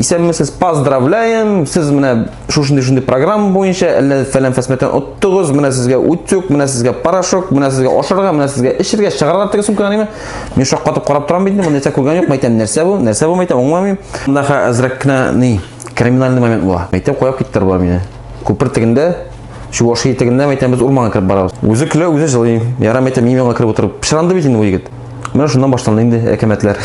Исәнмесез, поздравляем! Сез менә шушындый-шундый программа буенча әллә фәлән фәсмәтән оттыгыз, менә сезгә утюг, менә сезгә порошок, менә сезгә ашырга, менә сезгә эчергә, чыгарга теге сумканы ме? Мин шаккатып карап торам бит, моны нәрсә күргән юк, мәйтәм, нәрсә бу? Нәрсә бу мәйтәм, аңламыйм. Монда ха әзрәк кенә ни, криминальный момент була. Мәйтәм, куяп киттер бар мине. Күпер тегендә, шу ваш тегендә мәйтәм, без урманга кереп барабыз. Үзе көлә, үзе җылый. Яра мәйтәм, мин миңа кереп утырып, пычранды бит инде бу егет. Менә шуннан башланды инде әкәмәтләр.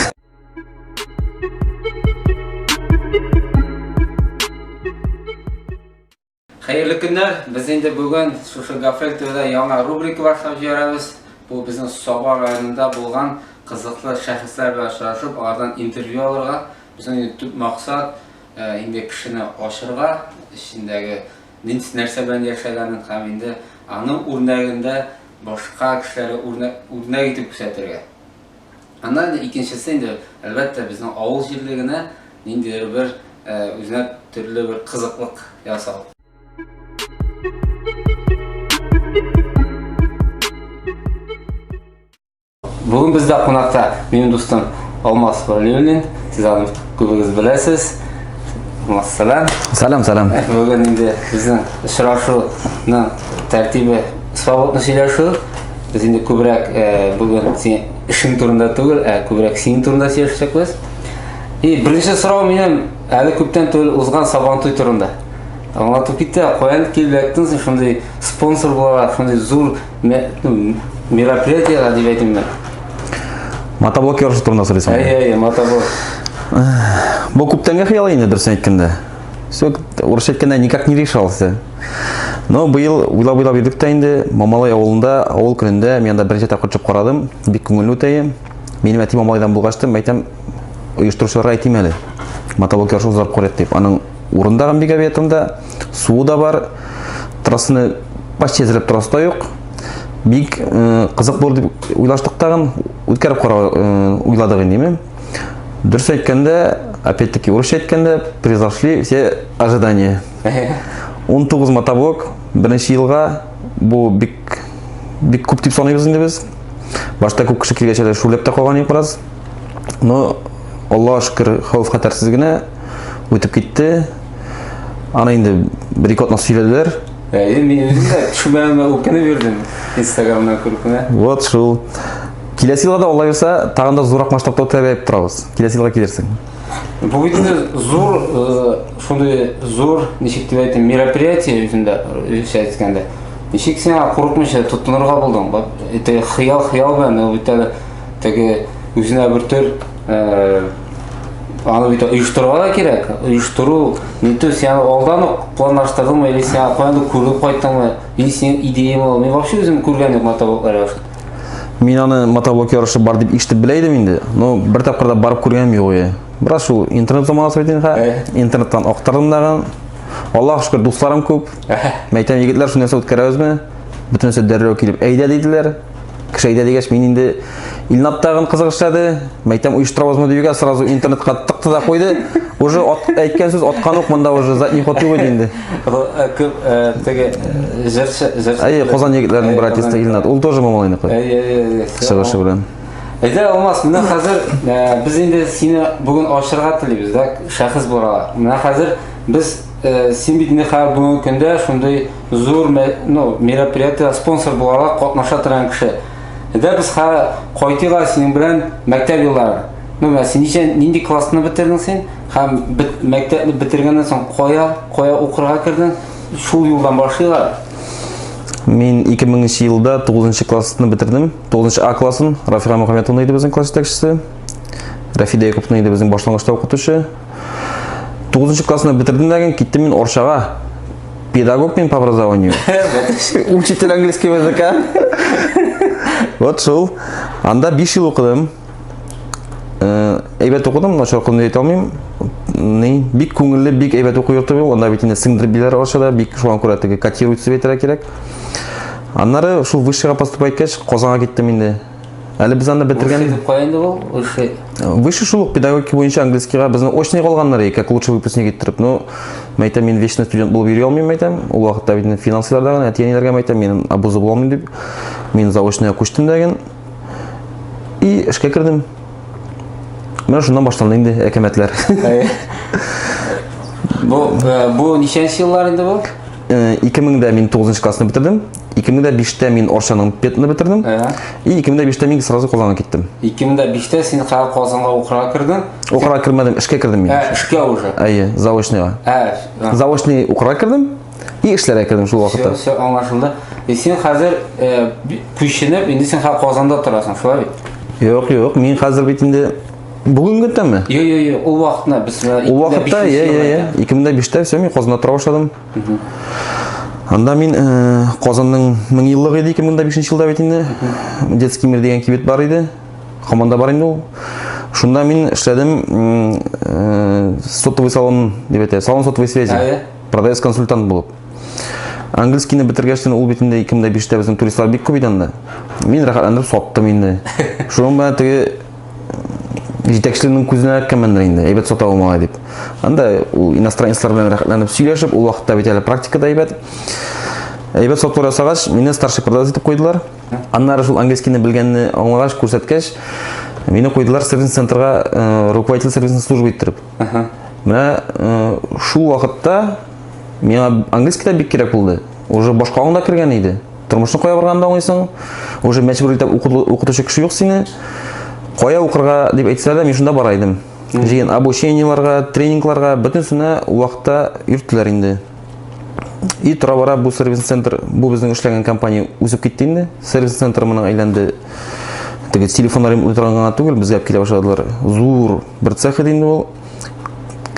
Хәерле көннәр! Без инде бүген шушы Гафрел ТВда яңа рубрика башлап җибәрәбез. Бу безнең Саба районында булган кызыклы шәхесләр белән очрашып, алардан интервью алырга. Безнең инде төп максат э, инде кешене ачырга, эчендәге нәрсә белән яшәгәнен һәм инде аның үрнәгендә башка кешеләргә үрнәк, үрнәк итеп күрсәтергә. Аннан инде икенчесе инде, әлбәттә, безнең авыл җирлегенә ниндидер бер э, үзенә төрле бер кызыклык ясау. Бүген бездә кунакта минем дустым Алмаз Валиуллин. Сез аны күбегез беләсез. Алмаз, сәлам. Сәлам, сәлам. Э, бүген инде безнең очрашуның тәртибе свободный сөйләшү. Без инде күбрәк бүген син эшең турында түгел, ә күбрәк синең турында сөйләшәчәкбез. И беренче сорау минем әле күптән түгел узган сабан туй турында. Аңлатып китте, каян килеп яктың син шундый спонсор буларак, шундый зур мероприятиега дип әйтимме? Мотоблок ярышы турында сөйләсәң. Әйе, әйе, мотоблок. Бу күптәнге хыял инде, дөресен әйткәндә. Все, урысча әйткәндә никак не решался. Но быел уйлап-уйлап йөрдек тә инде, Мамалай авылында, авыл көнендә мин анда беренче тапкыр төшеп карадым, бик күңелле үтә. Минем әти Мамалайдан булгач та, мәйтәм, оештыручыларга әйтим әле. Мотоблок ярышы узарып карыйк дип. Аның урында һәм бик объектында суы да бар. Трассаны почти әзерләп торасы да юк. Бик э, кызык булыр дип уйлаштык тагын, үткәреп карау э, уйладык инде. Дөрес әйткәндә, опять-таки, урысча әйткәндә, превзошли все ожидания. 19 мотоблок беренче елга бу бик бик күп дип саныйбыз инде без. Башта күп кеше килгәч әле шүрләп тә калган идек бераз. Но Аллаһ шөкер, хәвеф хәтәрсез генә үтеп китте. Аны инде бер ике атна сөйләделәр. Әйе, мин үзем дә шүбәмә үкенеп йөрдем. Инстаграмнан күреп кенә. Вот шул. Киләсе елга да алай булса, тагын да зуррак масштабта үткәреп торабыз. Киләсе елга килерсең. Бу бит инде зур, э, шундый зур, ничек дип әйтим, мероприятие үзендә, русча әйткәндә. Ничек сиңа курыкмыйча тотынырга булдың? Бак, это хыял, хыял белән, ул бит әле теге үзенә бер төр э, аны бит оештырырга да кирәк. Оештыру, ниту сиңа алдан ук планлаштырдыңмы, или сиңа каяндыр күреп кайттыңмы, или синең идеяң ул. Мин вообще үзем күргән юк матабуклар Мин аны мотоблок ярышы бар дип ишетеп белә идем инде, но бер тапкыр да барып күргәнем юк иде. Бераз шул интернет заманасы бит инде. Интернеттан актардым дагы. Аллаһ шөкер, дусларым күп. Мәйтәм егетләр шуны нәрсә үткәрәбезме? Бөтенесе дәррәү килеп әйдә диделәр. Кеше әйдә дигәч, мин инде Илнат тагын кызык эшләде. Мәйтәм оештырабызмы дигән сразу интернетка тыкты да куйды. Уже әйткән сүз аткан ук монда уже задний ход юк инде. теге җырчы җырчы әйе казан егетләренең братисты илнат ул тоже мамалайныкы әйе әйе чыгышы белән әйдә алмаз менә хәзер без инде сине бүген ачырга телибез да шәхес буларак менә хәзер без син бит инде хәзер бүгенге көндә шундый зур ну мероприятие спонсор буларак катнаша торган кеше әйдә без хәзер кайтыйк синең белән мәктәп еллары ну менә син ничә нинди классны бетердең син Һәм бит мәктәпне битергәннән соң кая, кая укырга кердең? Шул юлдан башлыйлар. Мин 2000 елда 9 классны бетердем. 9 А классын Рафира Мөхәммәтовна иде безнең класс җитәкчесе. Рафида Якуповна иде безнең башлангычта укытучы. 9 классны бетердем дә киттем мин Оршага. Педагог мин по образованию. Учитель английского языка. Вот шул. Анда 5 ел укыдым. Э, әйбәт укыдым, начар укыдым дип әйтә алмыйм. Ни, бик күңелле, бик әйбәт уку йорты бу. Анда бит инде сеңдереп биләр ашада, бик шуңа күрә теге котируется дип әйтергә кирәк. Аннары шул высшийга поступай кеш Казанга киттем инде. Әле без анда бетергән. Высший дип кая инде ул? Высший. Э, высший шул педагогика буенча английскийга безне очный калганнар иде, как лучше выпускник иттереп. Ну, мәйтәм мин вечный студент булып йөри алмыйм мәйтәм. Ул вакытта бит финансларда гына әтиәниләргә мәйтәм, мин абузы булмыйм дип. Мин заочныйга күчтем дәген. И эшкә кердем. Менә шуннан башланды инде әкәмәтләр. Бу э, бу ничәнче еллар инде бу? 2000-дә э, мин 9 классны бетердем. 2005-тә мин Оршаның петны бетердем. И 2005-тә мин сразу Казанга киттем. 2005-тә син хәл Казанга укырга кердең? Укырга кермәдем, эшкә кердем мин. Ә, эшкә уже. Әйе, заочныйга. Ә, заочный укырга кердем. И эшләргә кердем шул вакытта. Все, все аңлашылды. И син хәзер э, би- күченеп, инде син хәзер Казанда торасың, шулай бит? Юк, юк, мин хәзер бит инде бүгенге тәме. Йо, йо, йо, ул вакытны без менә Ул вакытта, я, я, я, 2005-тә все, мин Казанда тора башладым. Анда мин э, Казанның мең еллыгы иде 2005 елда бит инде. Детский мир дигән кибет бар иде. Хаманда бар инде ул. Шунда мин эшләдем м, э, сотовый салон дип әйтә, салон сотовой связи. Әйе. Продавец-консультант булып. Английскийны бетергәчтен ул бит инде 2005-тә безнең туристлар бик күп иде анда. Мин рәхәтләнеп саттым инде. Шуның белән теге җитәкчелекнең күзенә эләккәнмендер инде, әйбәт сата ул малай дип. Анда ул иностранецлар белән рәхәтләнеп сөйләшеп, ул вакытта бит әле практика да әйбәт. Әйбәт сату ясагач, мине старший продавец итеп куйдылар. Аннары шул английскийны белгәнне аңлагач, күрсәткәч, мине куйдылар сервис центрга, э, руководитель сервисной службы иттереп. Менә шул вакытта миңа английский да бик кирәк булды. Уже башка аңда кергән иде. Тормышны кая барганда аңлыйсың? Уже мәҗбүр итеп укытучы кеше юк сине. Кая укырга дип әйтсә дә, мин шунда бара идем. Җыен обучениеларга, тренингларга бөтенесенә вакытта йөрттеләр инде. И тора бара бу сервис центр, бу безнең эшләгән компания үзеп китте инде. Сервис центр моның әйләнде. Теге телефоннар утырган гына түгел, безгә килә башладылар. Зур Бер цехы динде ул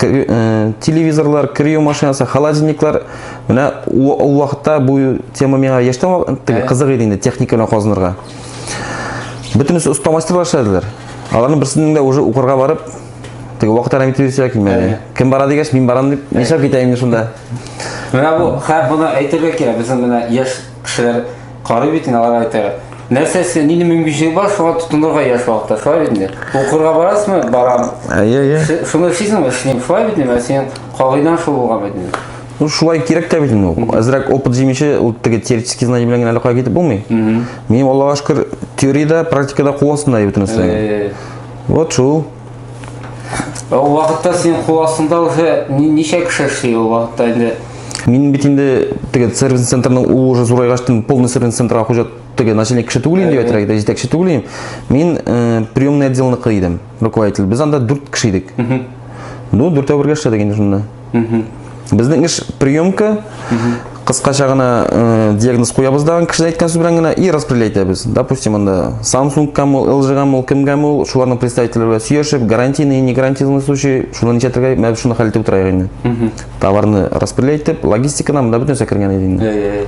э, телевизорлар, кирю машинасы, холодильниклар. Менә ул вакытта бу тема миңа яшьтән теге кызык иде инде техника белән казынырга. Бөтенесе оста мастерлар эшләделәр. Аларның берсенең дә уже укырга барып, теге вакытта әйтеп йөрсә килмәде. Кем бара дигәч, мин барам дип, нишләп китәм инде шунда. Менә бу, хә, моны әйтергә кирәк, безнең менә яшь кешеләр Карый бит инде алар әйтә. Нәрсәсе, нинди мөмкинчелек бар, шуңа тотынырга яшь вакытта, шулай бит инде. Укырга барасызмы? Барам. Әйе, әйе. Ш- Шуны эшлисеңме? Эшлим. Шулай бит инде, ә синең кагыйдәң шул булган бит инде. Ну, шулай кирәк тә бит инде ул. Әзрәк опыт җимеше, ул теге теоретический знание белән генә әллә кая китеп булмый. Минем Аллага шөкер, теориядә, практикада кул астында бөтен нәрсә. Э, Вот шул. Ул вакытта синең кул астында уже ничә кеше эшли ул вакытта инде? Мин бит инде теге сервис центрның ул уже зурайгачтын полный сервис центрга хуҗа теге начальник кеше түгел инде әтрәк дә җитәкче түгел инде. Мин э, приемный отделныкы идем, руководитель. Без анда 4 кеше идек. Ну, дүртәү бергә эшләдек инде шунда. Безнең эш приемка, кыскача гына э, диагноз куябыз да кешенең әйткән сүз белән генә и распределять итәбез. Допустим, анда Samsung кем ул, LG кем ул, кем кем ул, шуларның представительләре белән сөйләшеп, гарантийный, не гарантийный случай, шуны ничә төргә, менә шуны хәл итеп утырайык инде. Товарны распределять итеп, логистиканы монда бөтен нәрсә кергән иде инде.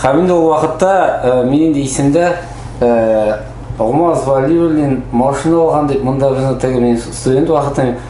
Һәм инде ул вакытта э, мин инде исемдә э, Алмаз Валиуллин машина алган дип, монда безне теге мин студент вакытым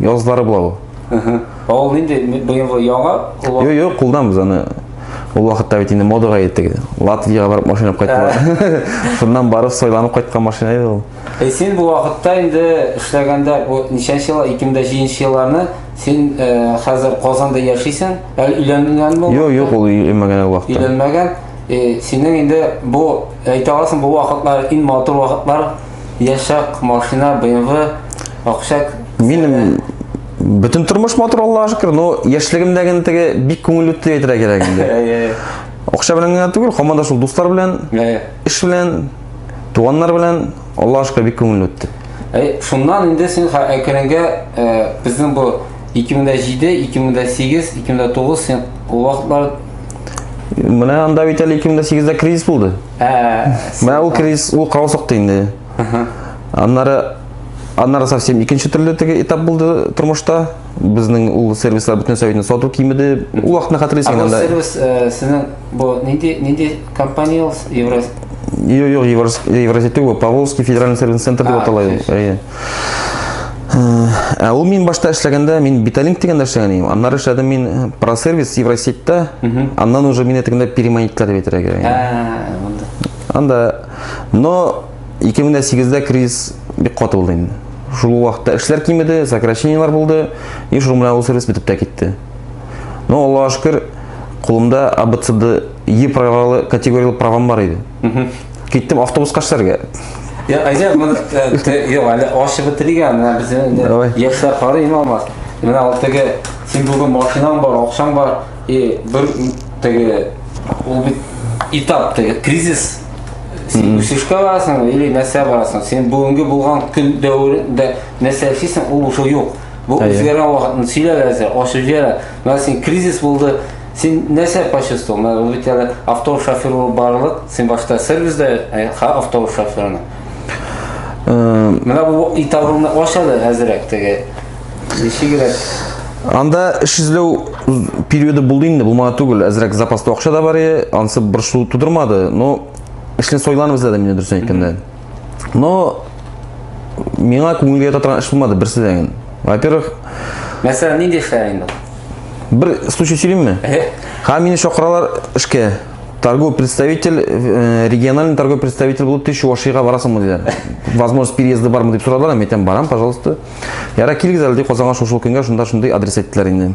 Язлары була бу. Ә ул нинди быелгы яңа? Юк, юк, кулдан без аны Ул вакытта бит инде модага итте. Латвиягә барып машина кайттылар. Шуннан барып сойланып кайткан машина иде ул. Ә син бу вакытта инде эшләгәндә бу ничәнче ел 2007 нче елларны син э, хәзер Казанда яшисең. Әле өйләнгәнме? Юк, юк, ул өйләнмәгән ул вакытта. Өйләнмәгән. Э, синең инде бу әйтә аласың бу вакытлар иң матур вакытлар яшак, машина, BMW, акчак. Минем бөтен тормыш матур Аллаһ шөкер, но яшьлегемдә генә теге бик күңел үтте дип әйтергә кирәк инде. Акча белән генә түгел, һаман да шул дуслар белән, эш белән, туганнар белән Аллаһ шөкер бик күңел үтте. Әй, шуннан инде син әкренге э, безнең бу 2007, 2008, 2009 син ул вакытлар менә анда бит әле 2008 дә кризис булды. Ә, Менә ул кризис, ул каусыкты инде. Аннары аннары совсем икенче төрле теге этап булды тормышта. Безнең ул сервислар бөтен советны сату кимеде. Ул вакытны Ә хәтерлисең бу анда. сервис э, сезнең бу нинди нинди компания ул? Евро Юк, юк, Еврос- Евразия түгел, Поволжский федеральный сервис центр дип А, атала. точно. Әйе. Ә ул мин башта эшләгәндә, мин Биталинк дигәндә эшләгән идем. Аннары эшләдем мин э, просервис Евросетьтә. Аннан уже мине тегендә переманительләр дип әйтергә кирәк. Ә, монда. Анда но 2008-дә кризис бик каты булды инде. Шул вакытта эшләр кимеде, сокращениелар булды, и шул белән ул сервис бетеп тә китте. Но Аллаһуга шөкер, кулымда АБЦД Е правалы категорияле правам бар иде. Киттем автобуска эшләргә. Я, әйдә, моны юк, әле ачып бетерик әле, безнең Давай. яшьләр карый име алмас. Менә ул теге син бүген машинаң бар, акчаң бар, и бер теге ул бит этап теге кризис. Син үсешкә барасың или нәрсә барасың? Син бүгенге булган көн дәверендә нәрсә эшлисең, ул уже юк. Бу Әйе. үзгәргән вакытны сөйләп әзер, ачып җибәрә. Менә син кризис булды, Син нәрсә почувствовал? Менә ул бит әле автобус шофер булып барылып, син башта сервисда, ә ха автобус шоферына. Менә бу итагыңны ач әле әзрәк теге. Ничегрәк? Анда эш эзләү периоды булды инде, булмады түгел. Әзрәк запаста акча да бар иде, ансы борчылу тудырмады, но эшне сойланып эзләдем инде дөресен әйткәндә. Но миңа күңелгә ята торган эш булмады берсе дә инде. Во-первых, Мәсәлән, нинди эшләр инде? бер случай сөйлимме? Эһе. Һәм мине чакыралар эшкә. Торговый представитель, э, региональный торговый представитель булып тиеш Чувашиягә барасыңмы диләр. Возможность переезды бармы дип сорадылар, һәм әйтәм, барам, пожалуйста. Ярар, килегез әле ди Казанга шул-шул көнгә, шунда шундый адрес әйттеләр инде.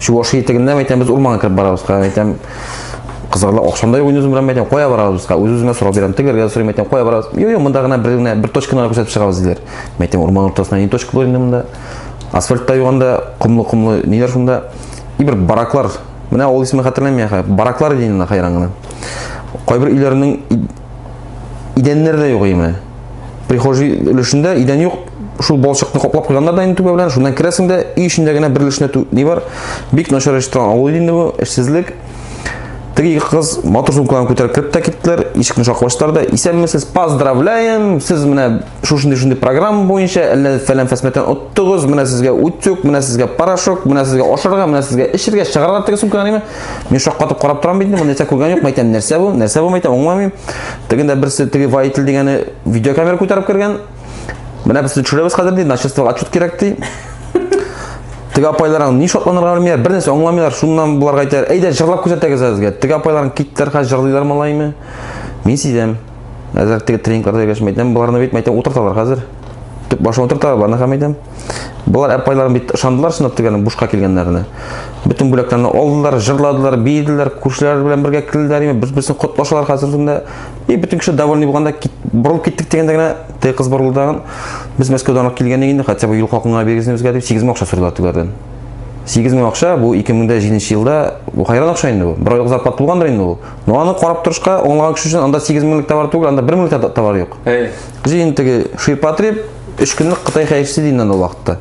Чуваши итегеннән әйтәм, без урманга кереп барабыз, кая әйтәм, кызларга акшамда юк үзем белән әйтәм, кая барабыз бизга? Үз-үземә сорап бирәм, тегеләргә сорыйм, әйтәм, кая барабыз? Юк, юк, монда гына бер генә бер точканы гына күрсәтеп чыгабыз диләр. Мен әйтәм, урман уртасында ни точка булыр инде монда? Асфальт та юганда, комлы-комлы ниләр шунда? И бер бараклар. Менә авыл исеме хәтерләмим, бараклар дигәннәр хайран гына. Кайбер өйләрнең Идәннәр дә юк имә. Прихожий өлешендә идән юк. Шул балчыкны каплап куйганнар да инде түбә белән. Шуннан керәсең дә, өй эчендә генә бер өлешенә ни бар? Бик начар эш торган авыл инде бу, эшсезлек. Теге ике кыз матур сумкаларын күтәреп кереп тә киттеләр. Ишекне шакып ачтылар да, "Исәнмесез, поздравляем! Сез менә шушындый шундый программа буенча әллә фәлән фәсмәтән оттыгыз менә сезгә утюг менә сезгә порошок менә сезгә ашарга менә сезгә эчергә чыгарга теге сумканы әниме мин шаккатып карап торам бит бу нәрсә күргән юк мәйтәм нәрсә бу нәрсә бу мәйтәм аңламыйм тегендә берсе теге водитель дигәне видеокамера күтәреп кергән менә без төшерәбез хәзер ди начальствога отчет кирәк ди теге апайларың ни шатланырга белмиләр бер нәрсә аңламыйлар шуннан боларга әйтәләр әйдә җырлап күрсәтегез сезгә теге апайларың киттеләр хәзер җырлыйлар малайымы мин сизәм Әзер теге тренингларда гәш мәйтәм, боларны бит мәйтәм утырталар хәзер. Төп башын утырталар боларны һәм мәйтәм. Болар әпайларын бит ышандылар шунда тегән бушка килгәннәренә. Бөтен бүләкләрне алдылар, җырладылар, биеделәр, күршеләр белән бергә килделәр, име без безне котлашалар хәзер шунда. И бөтен кеше довольный булганда кит, борылып киттек дигәндә генә теге кыз борылды тагын. Без Мәскәүдән алып килгән инде, хотя бы юл хакына бирегезне безгә дип 8 мең акча сорыйлар тегеләрдән. 8 мең акча бу 2007 елда бу хайран акча инде бу. Бер айлык зарплата булгандыр инде ул. Но аны карап торышка аңлаган кеше өчен анда 8 меңлек товар түгел, анда 1 меңлек та товар юк. Әй. Җи инде теге ширпотреб 3 көнлек Кытай хәерчесе дигән анда вакытта.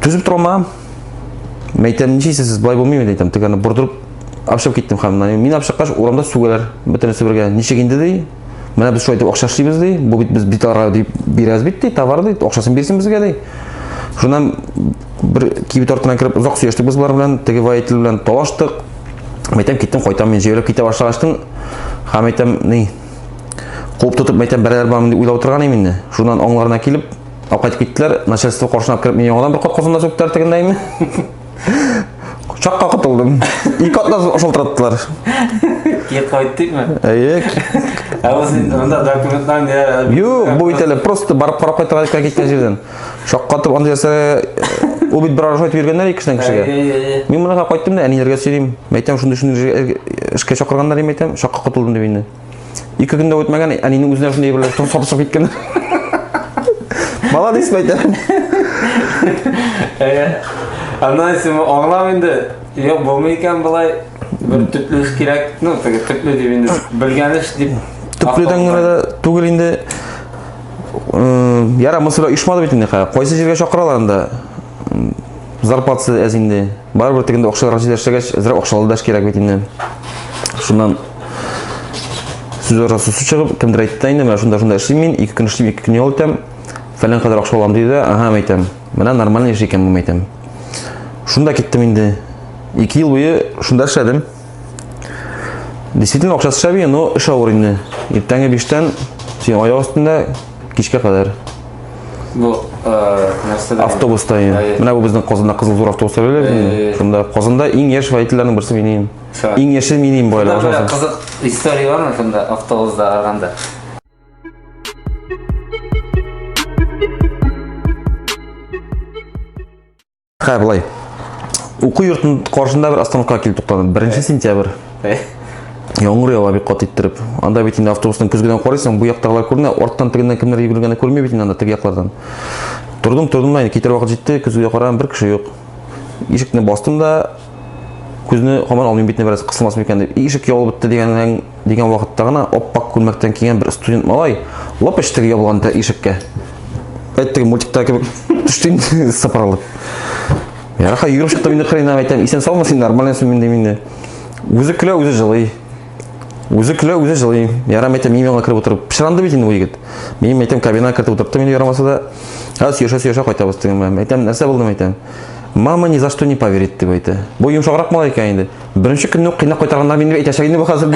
Түзеп тора алмаган. Мәйтәм, ничә сез болай булмыймы дидем, теге аны бордырып апшып киттем хәмнән. Мин апшыккач урамда сүгәләр. Бөтенесе бергә. Ничек инде ди? Менә без шулай итеп акча эшлибез ди. Бу бит без бит аларга дип бирәбез бит ди, товар ди, акчасын бирсен безгә ди. Шуннан бер кибет артына кереп озак сөйләштек без болар белән, теге водитель белән талаштык. Мәйтәм киттем, кайтам мин җәйләп китә башлагачтын. Һәм мәйтәм ни? Куып тотып мәйтәм бәрәләр бармын дип уйлап утырган инде. Шуннан аңларына килеп, алып кайтып киттеләр. Начальство каршына кереп мине яңадан бер кат казанда чүктәр тегендәйме? Чакка котылдым. Ике атна шылтыраттылар. Кет кайттыкмы? Әйе. Ә ул син анда документлар не? Юк, бу бит әле просто барып карап кайтырга икән киткән җирдән. Шаккатып андый нәрсә ул бит бер арашат биргәннәр ике кешедән кешегә. Мин монда кайттым да әниләргә сөйлим. Мәйтәм шундый шундый эшкә чакырганнар дип әйтәм, шакка котылдым дип инде. Ике көндә үтмәгән, әнинең үзенә шундый әйберләр туры сабысып киткән. Молодец бәйтә. Аннан син аңлам инде. Юк, булмый икән болай. Бер төпле эш кирәк. Ну, теге төпле дип инде белгән эш дип. Төпледән генә дә түгел инде. Яра, монысы белән оешмады бит инде. Кайсы җиргә чакыралар анда? Зарплатасы әз инде. Барыбер тик инде акчалар җитә эшләгәч, әзрәк акчалы да кирәк бит инде. Шуннан сүз арасы сүз чыгып, кемдер әйтте инде, менә шунда шунда эшлим мин, ике көн эшлим, ике көн ял итәм. Фәлән кадәр акча алам диде, ага, мәйтәм. Менә нормальный эш икән бу мәйтәм. Шунда киттем инде. Ике ел буе шунда эшләдем. Действительно акчасы шәби, но эш авыр инде. Иртәнге 5-тән син аяк астында кичкә кадәр Бу э, нәрсә? Автобуста ин. Менә бу безнең Казанда Кызыл Зур автобуста беләләр инде. Шунда Казанда иң яшь водительләрнең берсе мин инем. Иң яше мин инем байлар. Шунда кызык история бар микән да автобуста арганда? Хә, былай. Уку йортын каршында бер остановка килеп туктадым. 1 сентябрь. Яңгыр ява бик кат иттереп. Анда бит инде автобусның көзгедән карыйсың, бу яктагылар күренә, арттан тегеннән кемнәр йөгергәнне күрми бит инде анда теге яклардан. Тордым, тордым да, китер вакыт җитте, көзгедә караган бер кеше юк. Ишекне бастым да, күзне хаман алмыйм битне бераз кысылмас микән дип. Ишек ябылып бетте дигәннән дигән вакытта гына ап-ак күлмәктән кигән бер студент малай лап эчтеге ябылган ишеккә. Әйттеге мультикта кебек төштем сыпырылып. Ярха йөреп чыктым инде хренага әйтәм, исән саумы син нормально син инде инде. Үзе көлә, үзе җылый. Үзе көлә, үзе җылый. Ярам әйтәм, мин аңа кереп утырып, пышранды бит инде бу егет. Мин әйтәм, кабинага кереп утырттым инде ярамаса да. Һәз сөйләшә сөйләшә кайтабыз дигән. Әйтәм, нәрсә булды әйтәм. Мама ни за что не поверит дип әйтә. Бу йомшаграк малай икән инде. Беренче көнне үк кыйнап кайтарганнар мине әйтәчәк инде бу хәзер.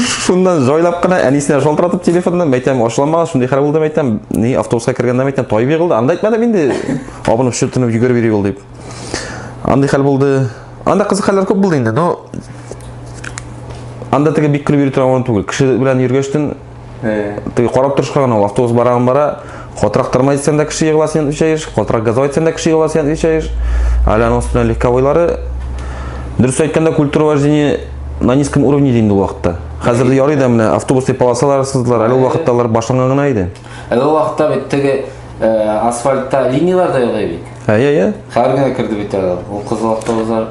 Шуннан җайлап кына әнисенә шалтыратып телефоннан мәйтәм ашлама, шундый хәл булды мәйтәм. Ни автобуска кергәндә мәйтәм тай бирелде. Анда әйтмәдем инде. Абынып чүтенеп йөгереп йөри ул дип. Андый хәл булды. Анда кызык хәлләр күп булды инде, но анда теге бик көлеп йөри торган урын түгел. Кеше белән йөргәчтен Ты карап торышка гына ул автобус бараган бара, катырак тормай дисәң дә кеше егыла сен өчәеш, катырак газовый дисәң дә кеше егыла сен өчәеш. Әле аның өстенә легковойлары. Дөрес әйткәндә, культура вождения на низком уровне инде ул вакытта. Хәзер ярый да менә автобусный полосалар сыздылар, әле ул вакытта алар башланган гына иде. Әле ул вакытта бит теге асфальтта линияләр дә юк иде. Әйе, әйе. Хәзер генә керде бит әле. Ул кызыл автобуслар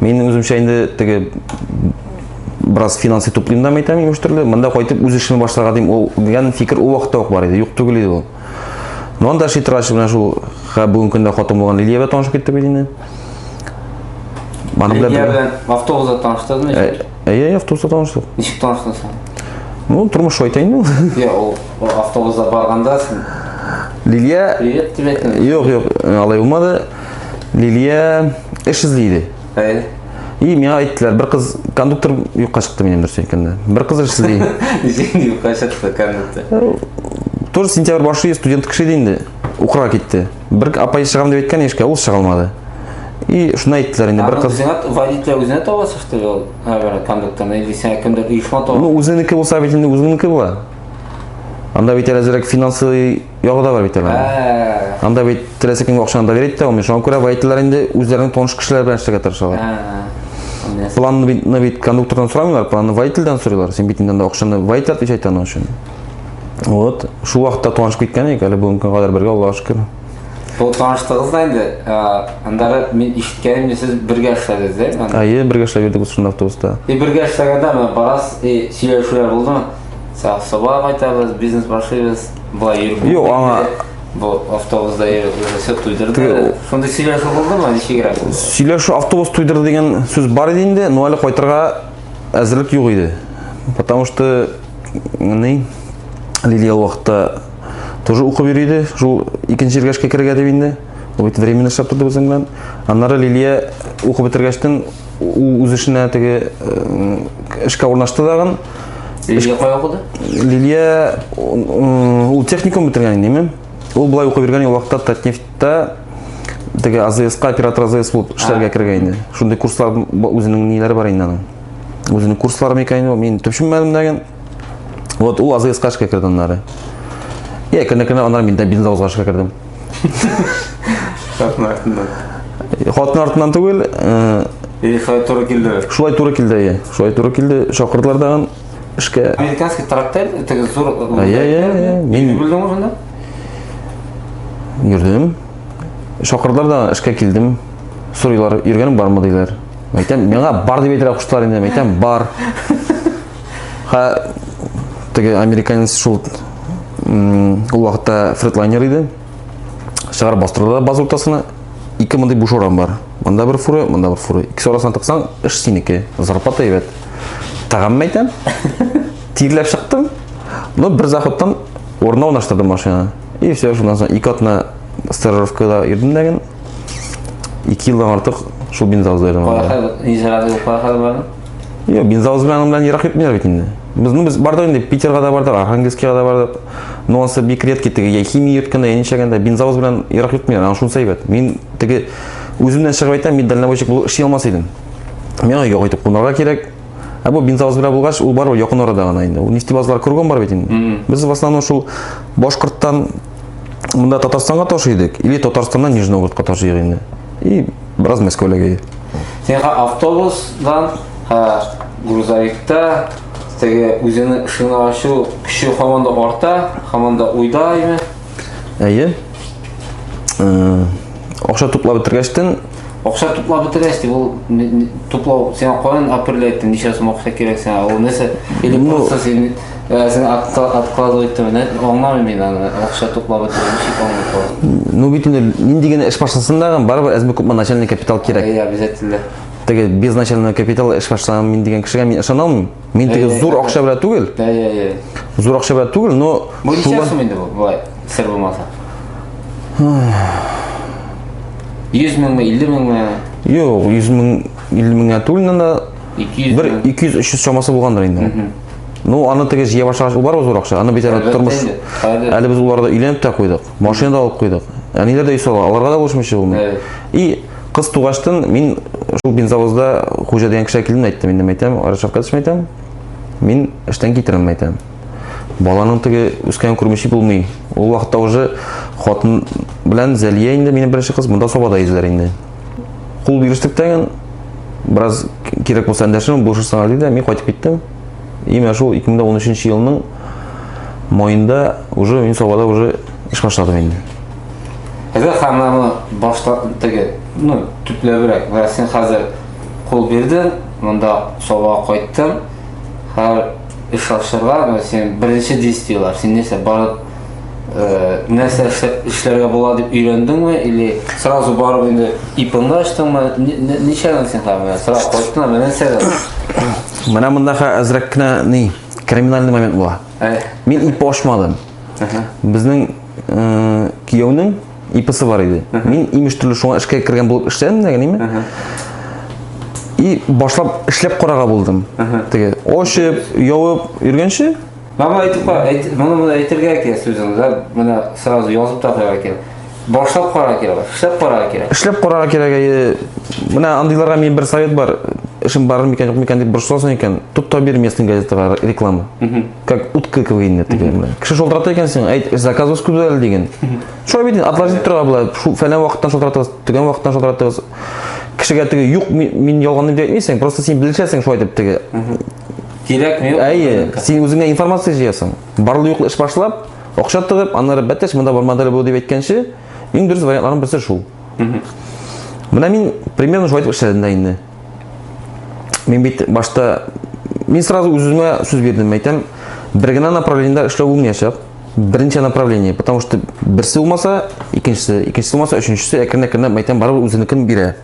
Мин үземчә инде теге бераз финанс туплыйм да мәйтәм имеш төрле. Монда кайтып үз эшемне башларга дим. Ул дигән фикер ул вакытта ук бар иде. Юк түгел иде ул. Но анда шитрач белән шул бүгенге көндә хатын булган Лилиябә танышып киттек бит инде. Аны белән белән автобуста таныштыңызмы? Әйе, автобуста таныштык. Ничек таныштыңыз? Ну, тормыш шулай та инде. Я, ул автобуста барганда син Лилия Привет тебе. Юк, юк, алай булмады. Лилия эш эзли иде. Әй. И миңа әйттеләр, бер кыз кондуктор юкка чыкты минем дөрес әйткәндә. Бер кыз эш эзли. Ничек юкка чыкты кондуктор? Э, тоже сентябрь башы студент кеше иде инде. Укырга китте. Бер апай чыгам дип әйткән яшькә, ул чыга алмады. И шуны әйттеләр инде бер кыз. Үзеңә водитель үзенә таба чыкты ул, әгәр кондукторны или сиңа кемдер оешма таба. Ну, үзенеке булса бит инде үзенеке була. Анда бит әле финансы ягы да бар бит әле. Анда бит теләсә кемгә акчаны доверить итә алмый. Шуңа күрә водительләр инде үзләренең таныш кешеләре белән эшләргә тырышалар. Планны бит, ну бит кондуктордан сорамыйлар, планны водительдән сорыйлар. Син бит инде анда акчаны водитель отвечать итә аның өчен. Вот, шул вакытта танышып киткән идек, әле бүгенге көнгә кадәр бергә, Аллаһка шөкер. Бу таныштыгыз да инде, андары мин ишеткәнем, сез бергә эшләдегез, дә? Әйе, бергә эшләп йөрдек шунда автобуста. И бергә эшләгәндә, барас, и сөйләшүләр булдымы? Сабага кайтабыз, бизнес башлыйбыз. Болай йөреп. Юк, аңа бу автобусда йөреп все туйдырды. Шундый сөйләшү булдымы, ничегрәк? Сөйләшү автобус туйдырды дигән сүз бар иде инде, но әле кайтырга әзерлек юк иде. Потому что ни Лилия вакытта тоже укып йөри иде, шул икенче җиргәшкә керергә дип инде. Ул бит временно эшләп торды безнең белән. Аннары Лилия укып бетергәчтен үз эшенә теге эшкә урнашты дагын. Лилия кая укыды? Лилия ул техникум бетергән инде, имем. Ул былай укып йөргән вакытта Татнефтьта теге АЗСка оператор АЗС булып эшләргә кергән инде. Шундый курслар үзенең ниләре бар инде аның. Үзенең курслары микән инде, мин төшенмәдем дә ген. Вот ул АЗСка эшкә керде аннары. Я кенә-кенә аннары мин дә бизнес узгашка кердем. Хатын артыннан. Хатын артыннан түгел, э, И шулай туры килде. шулай туры килде, әйе. Шулай туры килде, чакырдылар тагын эшкә. Американский трактор, теге зур. Ә, я, я, я, мин- Белдең шунда? Йөрдем. Чакырдылар да эшкә килдем. Сорыйлар, йөргәнең бармы диләр. Әйтәм, миңа бар дип әйтергә куштылар инде. Әйтәм, бар. Ха теге американец шул ул вакытта фредлайнер иде. Шагар бастырды баз уртасына. Ике мондый буш урам бар. Монда бер фуры, монда бер фуры. Икесе арасына тыксаң, эш синеке. Зарплата әйбәт. Тагам мәйтәм. Тирләп чыктым. Но бер заходтан урынына урнаштырдым машина. И все, шуннан соң ике атна стажировкада йөрдем дәген. Ике елдан артык шул бензал зайдым. Кая хәл, ни зарады, кая хәл бар? Юк, бензовоз белән белән ерак йөртмиләр бит инде. Без, ну, без бардык инде, Питерга да бардык, Архангельскига да бардык. Но ансы бик редкий теге, я химия йөрткәндә, я ничәгәндә, бензовоз белән ерак йөртмиләр, аны шунысы әйбәт. Мин теге үземнән чыгып әйтәм, мин дальнобойщик булып эшли алмас идем. Миңа өйгә кайтып кунарга кирәк. Ә бу бензовоз белән булгач, ул барыбер якын арада гына инде. Ул нефтебазлар кругом бар бит инде. Без в основном шул Башкорттан мында Татарстанга ташый идек, или Татарстаннан Нижний Новгородка ташый инде. И бераз Мәскәүләгә. Сен автобусдан, һә, грузовикта, теге үзенең шуны ачу көче һаман да арта, һаман да уйдаймы? Әйе. Э, акча туплап бетергәчтен Акча туплап бетерәсез дип, ул туплау, сен каян апрель әйттең, ничә сум акча кирәк сиңа, ул нәрсә, или ну, просто син э, сен откладывать итеп, аңламыйм мин аны, акча туплап бетерү, ничек аңлап Ну бит инде нинди генә эш башласын да, барыбер әзме күпме начальный капитал кирәк. Э, обязательно. Теге без начальный капитал эш башлаган мин дигән кешегә мин ышана алмыйм. Мин теге Әйе, зур әйе. акча белән түгел, Йә, йә, йә. зур акча белән түгел, но Бу ничә шулар- сум инде бу, былай, сер булмаса? 100 меңме, 50 меңме, Юк, 100 мең, 50 меңгә түгел, но 200 бер мең? 200-300 чамасы булгандыр инде. ул. Ну, аны теге җыя башлагач, ул бар ул зур акча. Аны бит әле Әлбәттә тормыш. инде, әле. Әле без уларда өйләнеп тә куйдык, машина да алып куйдык. Әниләр дә үй сала, аларга да булышмыйча булмый. Әйе. И Кыз тугаштын мин шул бензовозда хуҗа дигән кеше килдем әйттем инде әйтәм, Рашавкатович әйтәм, мин эштән китерәм әйтәм. Баланың теге үскән күрмеше булмый. Ул вакытта уже хатын белән Зәлия инде минем беренче кыз монда собада йөзләр инде. Кул бирештек тә бераз кирәк булса әндәшем булышырсың әле дә мин кайтып киттем. Именно шул 2013 елның майында уже мин Сабада уже эш башладым инде. Әгәр хәмләне башта теге, ну, төпләбрәк, менә син хәзер кул бирдең, монда Сабага кайттың, һәр эш ашырга, менә син беренче действиелар, син нәрсә барып э, нәрсә эшләргә була дип өйрәндеңме или сразу барып инде ипыңны ачтыңмы? Ничәдән син хәмлә? Сразу кайттыңмы? Менә нәрсәдән? Менә мондагы әзрәк кенә ни, криминальный момент була. Э. Мин ипи ашмадым. Безнең э, кияүнең иписы бар иде. Мин имеш төрле шуңа эшкә кергән булып эшләдем дә генеме? И башлап эшләп карага булдым. Теге очып, явып йөргәнче Мама әйтеп кара, әйт, моны моны әйтергә кирәк сүзен, да, менә сразу язып та куярга кирәк. Башлап карарга кирәк, эшләп карарга кирәк. Эшләп карарга кирәк. Әйе. Менә андыйларга мин бер совет бар. Эшем бар микән, юк микән дип борчыласың икән, тот та бир местный газетага реклама. Как утка квейне дигән белән. Кеше шалтырата икән син, әйт, заказывыз күп әле диген. Шулай бит, отложить торырга була. Шул фәлән вакыттан шалтыратыгыз, төгән вакыттан шалтыратыгыз. Кешегә теге юк, мин ялган дип әйтмисең, просто син белешәсең шулай дип теге. Кирәкме, юкмы? Әйе, син үзеңә информация җыясың. Барлы юклы эш башлап, акча тыгып, аннары бәтәш монда бармады әле бу дип әйткәнче, иң дөрес вариантларның берсе шул. Менә мин примерно шулай итеп эшләдем дә инде. Мин бит башта мин сразу үземә сүз бирдем, әйтәм, бер генә направлениедә эшләү булмаячак. Беренче направление, потому что берсе булмаса, икенчесе, икенчесе булмаса, өченчесе әкрен-әкренләп әйтәм, барыбер үзенекен бирә.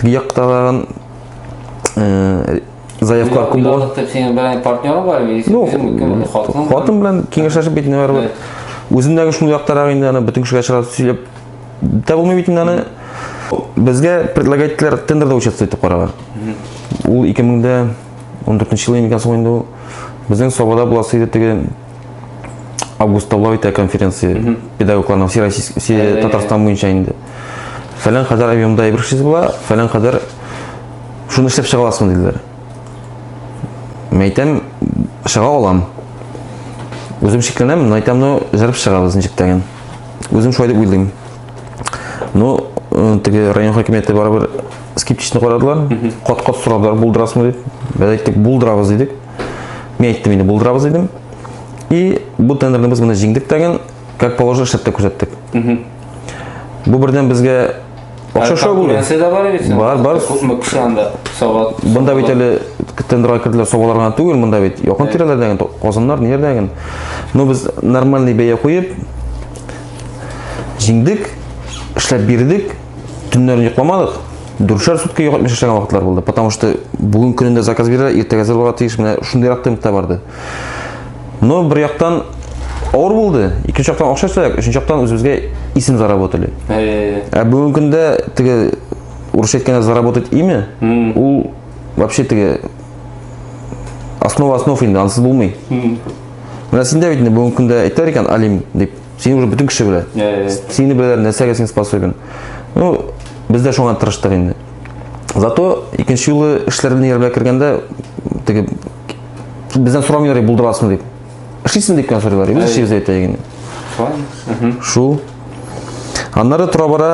Теге якта тагын э, заявкалар күп була. Пилотлык дип синең белән партнерың бар бит. Ну, хатын. Хатын белән киңәшләшеп бит ниләр бар. Үземдәге шул яктарак инде аны бөтен кешегә чыгарып сөйләп дә булмый бит инде аны. Безгә предлагательләр тендерда участвовать итеп караган. Ул 2014 елда ингән соң инде ул безнең Сабада буласы иде теге августта була бит ә конференция mm -hmm. педагогларның всероссийск все yeah, yeah, татарстан буенча инде фәлән кадәр объемда әйбер эшлисез була фәлән кадәр шуны эшләп чыга аласың диделәр мин әйтәм чыга алам үзем шикләнәм но әйтәм ну җырып чыгабыз ничек тә генә үзем шулай дип уйлыйм ну э, теге район хакимияте барыбер скептично карадылар кат кат сорадылар булдырасыңмы дип без әйттек булдырабыз дидек Мин әйттем инде булдырабыз дидем. И бу тендерны без моны җиңдек тәген, как положено эшләп тә күрсәттек. Бу бердән безгә акча шау булды. Конкуренция да бар бит. Бар, бар. Күпме кеше анда сават. Монда бит әле тендерга керделәр саваларга түгел, монда бит якын тирәләрдә генә, Казаннар, ниләрдә генә. Но без нормальный бәя куеп җиңдек, эшләп бирдек. Төннәрен йокламадык. Дүршәр сутки йоклап яшәгән вакытлар булды. Потому что бүген көнендә заказ бирә, иртәгә әзер булырга тиеш. Менә шундыйрак темпта барды. Но бер яктан авыр булды. Икенче яктан акча сәяк, өченче яктан үзебезгә исем заработали. Ә бүгенге көндә теге урысча әйткәндә заработать имя, ул вообще теге основа основ инде, ансыз булмый. Менә синдә бит инде бүгенге көндә әйтәр икән Алим дип. Сине уже бүтін кеше белә. Сине беләләр, нәрсәгә син способен. Ну, без дә шуңа тырыштык инде. Зато икенче юлы эшләр белән ярмә кергәндә, теге бездән сорамыйлар булдырасың дип. Эшлисең дип кенә сорыйлар. Без эшлибез әйтә егене. Шул. Аннары тора бара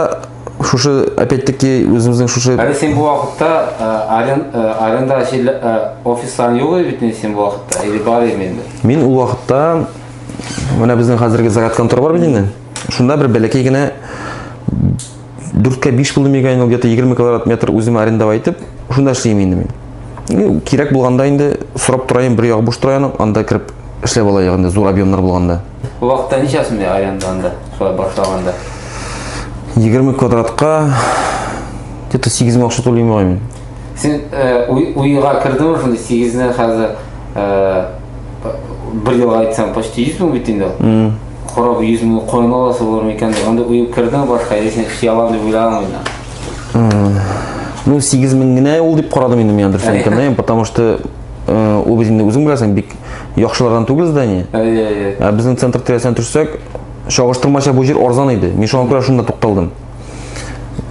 шушы опять-таки үзебезнең шушы Әле син бу вакытта э, арен, э, аренда җирле э, офисларың юк бит син бу вакытта или бар инде? Мин ул вакытта Менә безнең хәзерге заряд контор бар бит инде. Шунда бер бәләкәй генә 4-кә 5 булды мигән ул где-то 20 квадрат метр үземә арендава итеп, шунда эшлим инде мин. Ну, кирәк булганда инде сорап торайым, бер ягы буш тора анда кирип эшләп алайык инде зур объемнар булганда. Бу вакытта ничә сумда аренда анда? Шулай башлаганда. 20 квадратка где-то 8 мең акча түлим мин. Син э, уйга кирдеңме шунда 8 нә хәзер бер елга әйтсәм почти йөз мең бит инде ул кораб йөз мең коен аласы булыр микән дип анда уеп кердең башка әйдә син эшли аламын дип уйлаганмы инде ну сигез мең генә ул дип карадым инде мин дөрес әйткәндә потому что ул без инде үзең беләсең бик яхшылардан түгел здание әйе әйе ә безнең центр тирәсенә төшсәк чагыштырмача бу җир арзан иде мин шуңа күрә шунда тукталдым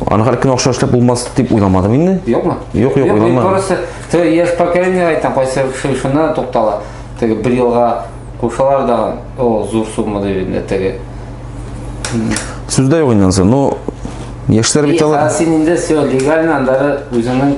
Аны һәр көн акча эшләп булмас дип уйламадым инде. Юкмы? Юк, юк, уйламадым. Просто ты яшь поколение айтам, кайсы шуна туктала. Теге бер елга кушалар да, о, зур сумма дип инде теге. Сүздә юк инде. Ну, яшьләр бит алар. Син инде все легально андары үзеңнең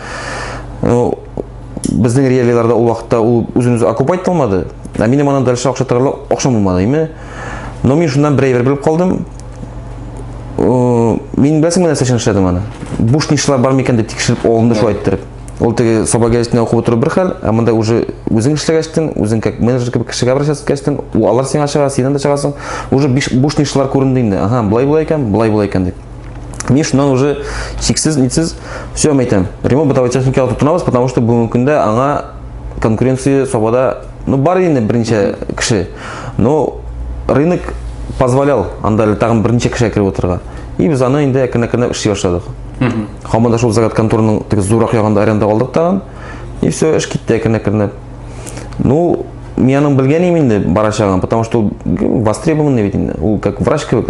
Ну, безнең реалияләрдә ул вакытта ул үзен үзе окупать итә алмады. Ә минем аннан дальше акча торырлык акчам булмады, име? Но мин шуннан бер әйбер белеп калдым. Мин беләсеңме нәрсә өчен эшләдем аны? Буш нишлар бар микән дип тикшереп алынды шулай иттереп. Ул теге саба гәзитенә укып утыру бер хәл, ә монда уже үзең эшләгәчтен, үзең как менеджер кебек кешегә обращаться иткәчтен, алар сиңа чыга, синнән дә чыгасың. Уже буш нишлар күренде инде. Ага, булай булай икән, булай булай икән дип. Мин шуннан уже чиксез нитсез все әйтәм. Ремонт бытовой техникага тотынабыз, потому что бүгенге көндә аңа конкуренция сабада ну бар инде берничә кеше. Но рынок позволял анда тагын берничә кеше кереп утырырга. И без аны инде әкрен-әкрен эшли башладык. Хамада шул загад конторның теге зурак ягында аренда алдык тагын. И все, эш китте әкрен-әкрен. Ну, мин аның белгән инде барачагын, потому что востребованный бит инде. Ул как врач кебек,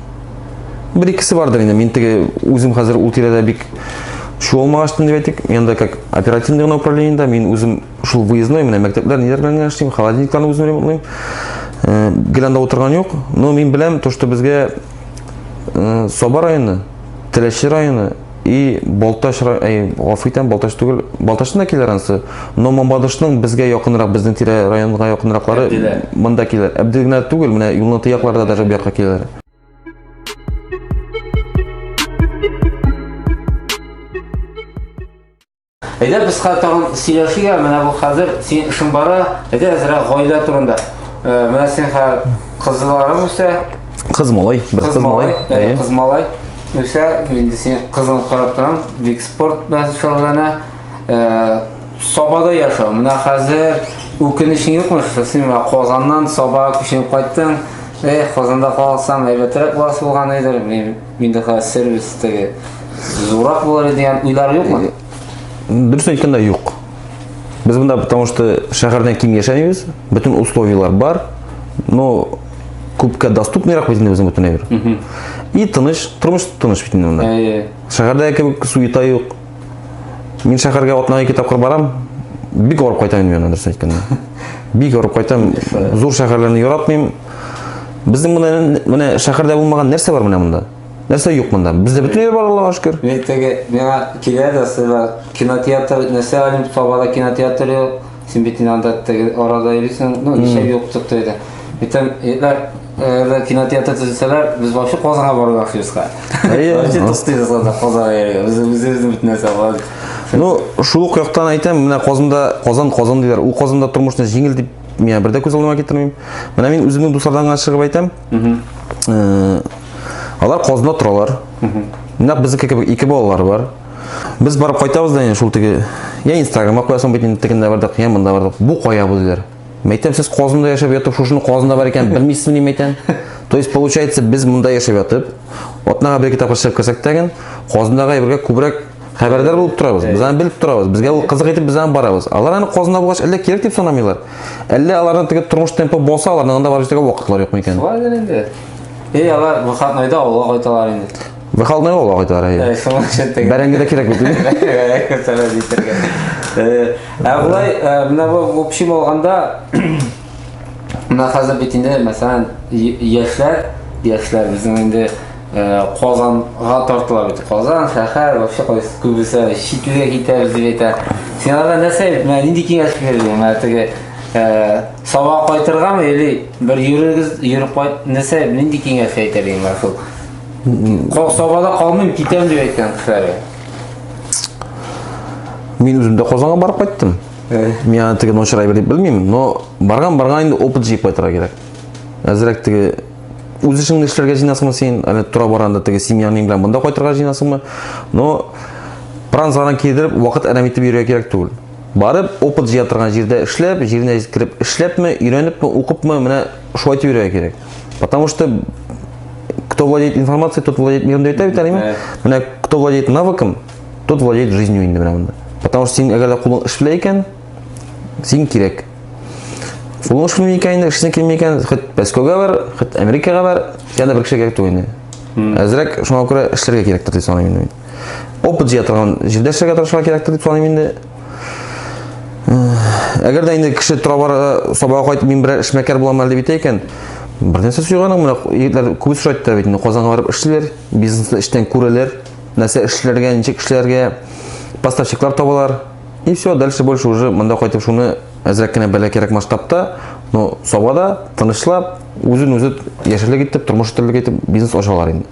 Бер икесе бардыр инде. Мин теге үзем хәзер ул тирәдә бик чуалмагачтын дип әйтик. Мин анда как оперативный гына управлениедә мин үзем шул выездной менә мәктәпләр ниләр белән генә эшлим, холодильникларны үзем ремонтлыйм. Э, гел анда утырган юк, но мин беләм то, что безгә э, Саба районы, Теләче районы И Балтач, әй, гафу итәм, Балтач түгел, Балтачтан да килер анысы. Но Мамадышның безгә якынрак, безнең тирә районга якынраклары монда килер. Әбдел генә түгел, менә юлны тыякларда даже бу якка килер. Әйдә без тагын сөйләшергә, менә бу хәзер синең эшең бара, әйдә әзрәк гаилә турында. Э, менә син хәзер кызларың үсә. Кыз малай, бер кыз малай. Кыз малай. Үсә, инде син кызын карап торам, бик спорт белән шөгыльләнә. Э, Сабада яшәү. Менә хәзер үкенечең юкмы? Син менә Казаннан Саба күченеп кайттың. Эх, Казанда калсам, әйбәтрәк буласы булган иде. Миндыка сервис теге зурак булыр дигән уйлар юкмы? Дөресен әйткәндә юк. Без монда потому что шәһәрдән ким яшәмибез, бөтен условияләр бар. Но күпкә доступныйрак бит инде безнең бөтен әйбер. И тыныч, тормыш тыныч бит инде монда. Шәһәрдә кебек суета юк. Мин шәһәргә атнага ике тапкыр барам. Бик орып кайтам мин аны дөрес әйткәндә. Бик орып кайтам. Зур шәһәрләрне яратмыйм. Безнең монда менә шәһәрдә булмаган нәрсә бар менә монда? Нәрсә юк монда? Бездә бөтен җир бар, Аллаһуга шөкер. Мин теге миңа килә дә сыйлар. Кинотеатр нәрсә алып табара кинотеатры Син бит инде анда теге арада йөрисең, ну, ничә ел тотты иде. Әйтәм, егетләр, әгәр кинотеатр төзетсәләр, без вообще Казанга барырга хыюска. Әйе, Вообще ну. туктыйбыз анда Казанга йөрергә. Без үзебезнең бит нәрсә бар. Ну, шул ук яктан әйтәм, менә Казанда, Казан, Казан диләр. Ул Казанда тормышны җиңел дип миңа бер дә күз алдыма китермим. Менә мин үземнең дуслардан гына чыгып әйтәм. Э, Алар Казанда торалар. Менә безнеке кебек ике балалары бар. Без барып кайтабыз да инде шул теге я инстаграмга куясың бит инде тегендә бардык, я монда бардык. Бу кая бу диләр. Мәйтәм сез Казанда яшәп ятып шушыны Казанда бар икән белмисезме ни мәйтәм. То есть получается без монда яшәп ятып, атнага бер китап чыгып керсәк тә ген, Казандагы әйбергә күбрәк хәбәрдар булып торабыз. Без аны белеп торабыз. Безгә ул кызык итеп без аны барабыз. Алар аны Казанда булгач әллә кирәк дип санамыйлар. Әллә аларның теге тормыш темпы булса, аларның анда барып җитәргә вакытлары юкмы икән? Шулай дә инде. Эй, алар выходнойда авылга кайталар инде. Выходной ул агыйдылар әйе. Э, шуның өчен теге. Бәрәңге дә кирәк бит. Бәрәңге сәләт җитәргә. Э, ә болай, э, менә бу общем алганда менә хәзер бит инде мәсәлән яшьләр, яшьләр безнең инде Казанга тартыла бит. Казан шәһәр вообще кайсы күбесе читлегә китәбез дип әйтә. Син анда нәрсә, менә нинди киңәш бирдең? Менә теге сабак кайтыргамы или бер йөрегез, йөреп кайт, нәрсә, нинди киңәш әйтер инде шул? Сабада калмыйм, китәм дип әйткән кеше әле. Мин үзем дә Казанга барып кайттым. Мин аны теге ночрай белеп белмим, но барган барган инде опыт җыеп кайтырга кирәк. Әзрәк теге үз эшеңне эшләргә җыенасыңмы син? Әле тора барганда теге семьяның белән монда кайтырга җыенасыңмы? Но пранзаран кидереп вакыт әрәм итеп йөрергә кирәк түгел. Барып, опыт җыя торган җирдә эшләп, җиренә җиткереп эшләпме, өйрәнепме, укыпмы, менә шулай итеп йөрергә кирәк. Потому что кто владеет информацией, тот владеет миром деп айтады бит Менә кто владеет навыком, тот владеет жизнью инде менә монда. Потому что син әгәр дә кулың эш белә икән, син кирәк. Кулың эш белми икән, эшне килми икән, хит Пәскөгә бар, хит Америкага бар, янда бер кеше кирәк түгел инде. Әзрәк шуңа күрә эшләргә кирәктер дип саныйм инде мин. Опыт җыя торган җирдә эшләргә тырышырга кирәктер дип саныйм инде. Әгәр дә инде кеше тора бара сабага кайтып мин берәр эшмәкәр булам әле дип әйтә икән, бер нәрсә сөйгәнең менә егетләр күп сорайды да бит инде Казанга барып эшлиләр, бизнесны эштән күрәләр, нәрсә эшләргә, ничек эшләргә, поставщиклар табалар. И все, дальше больше уже монда кайтып шуны әзрәк кенә бәлә кирәк масштабта, но сабада тынычлап, үзен үзе яшәрлек итеп, тормыш итәрлек итеп бизнес ачалар инде.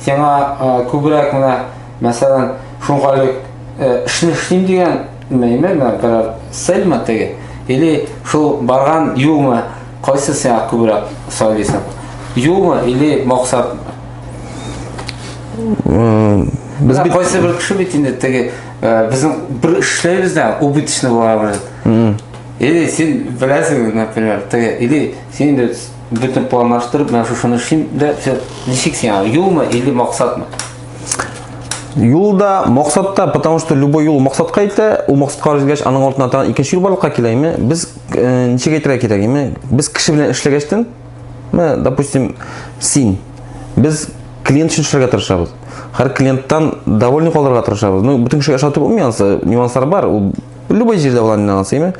Сиңа күбрәк менә, мәсәлән, шуңкайлы эшне эшлим дигән мәйме, менә берәр цельмы теге, или шул барган юлмы, кайсы сиңа күбрәк сайлыйсың? Юлмы или максатмы? Без бит... Кайсы бер кеше бит инде теге, безнең бер эшләйбез дә, убыточный була бит. Или син беләсең, например, теге, или син инде Бөтен планлаштырып, менә шушыны эшлим дә, все. Ничек син аңа? Юлмы или максатмы? Юл да, максат та, потому что любой юл максатка итә, ул максатка җиткәч, аның артына тагын икенче юл барлыкка килә, име? Без э, ничек әйтергә кирәк, име? Без кеше белән эшләгәчтен, менә, допустим, син, без клиент өчен эшләргә тырышабыз. Һәр клиенттан довольны калырга тырышабыз. Ну, бөтен кешегә ошатып булмый ансы, нюанслар бар. Ул любой җирдә булган нюанс, име?